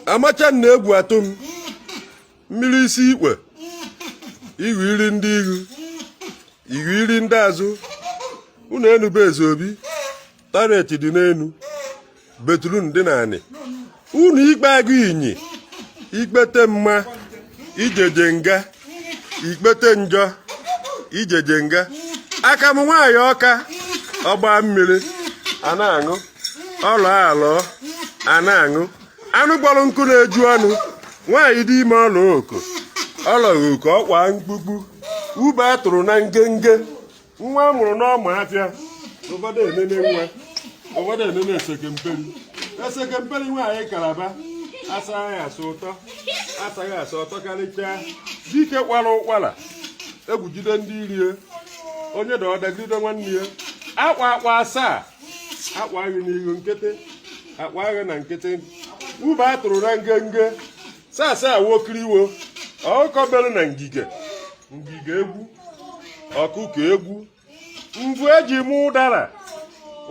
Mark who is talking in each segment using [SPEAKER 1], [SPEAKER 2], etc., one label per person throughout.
[SPEAKER 1] amacha na egwu atụ m mmiri isi ikpe ihu iri ndị ihu ihu iri ndị azụ unu enube eze obi taret dị n'enu betrun dị n'anị unu ikpe agụ iyi ikpete mma ijeje nga ikpete njọ ijeje nga aka m nwaanyị ọka ọgba mmiri a na-aṅụ ọ lụọ alụọ a na-aṅụ anụ kpọrọ nkụ na-eju ọnụ nwaanyị dị ime ọ lọ oko ọ lọghị oko ọkwa mkpukpu ube a tụrụ na ngenge nwa a mụrụ n'ọma afịa ụfọdụ enene nwa ụfọdụ enene esekemperi esekemperi nwaanyị kalaba asaghị asụ ụtọ asaghị asụ ụtọ karịchaa dike kwara ụkwara egwu jide ndị iro ya onye dọọdagide nwanne ya akwa akwa asaa akwa agha n'ihu nkịtị akwa agha na nkịtị ube a tụrụ na ngenge sasa wokiriwo ọkụkọ bere na ngige ngige egwu ọkụkọ egwu mvu eji mụ ụdara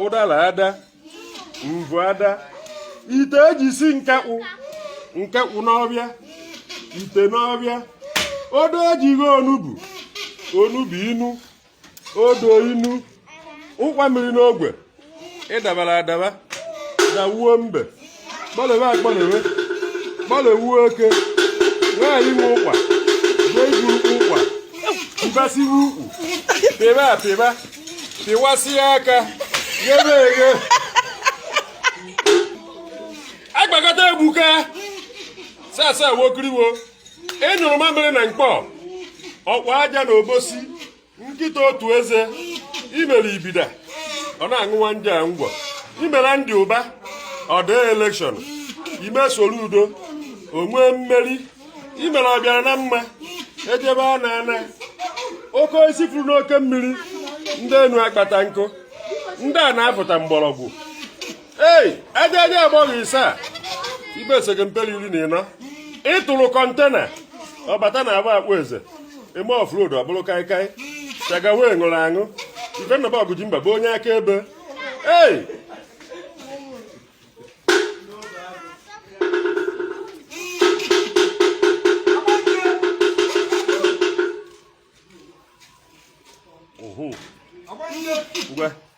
[SPEAKER 1] ụdara ada mvu ada ite eji si nkakwụ nkakwụ n'ọfịa ite n'ọfịa odo eji gwọ onugbu onugbu inu odo inu ụkwa mịrị n'ogwe ịdabara adaba na wuo mbe gbalebe agbalebe gbalewuo oke nwaanyị nwe ụkwa jee iguru ụkwa mbasiwe ukwu pịba apịba pịwasịa aka ghebe eghe agbakọta egbuka sasa wokiriwo ị nyụrụ mamịrị na mkpọ ọkwa aja na obosi nkịta otu eze imere ibida ọ na-aṅụwa nje a ngwọ imere Andy Ụba ọ dị elekshọn ime Soludo o nwee mmeri imere ọbịara na mma ejebe a na-ana oke osisi furu n'oke mmiri ndị enu akpata nkụ ndị ana afọta mgbọrọgwụ ei ejeje agbọghọ ise a ibe esekemperi iri na ịnọ ịtụrụ kọntena ọ bata na agba akpụ eze eme offload ọ bụrụ kaikai chagawe ṅụrụ aṅụ ifenaba ọgụji mba bụ onye aka ebe ei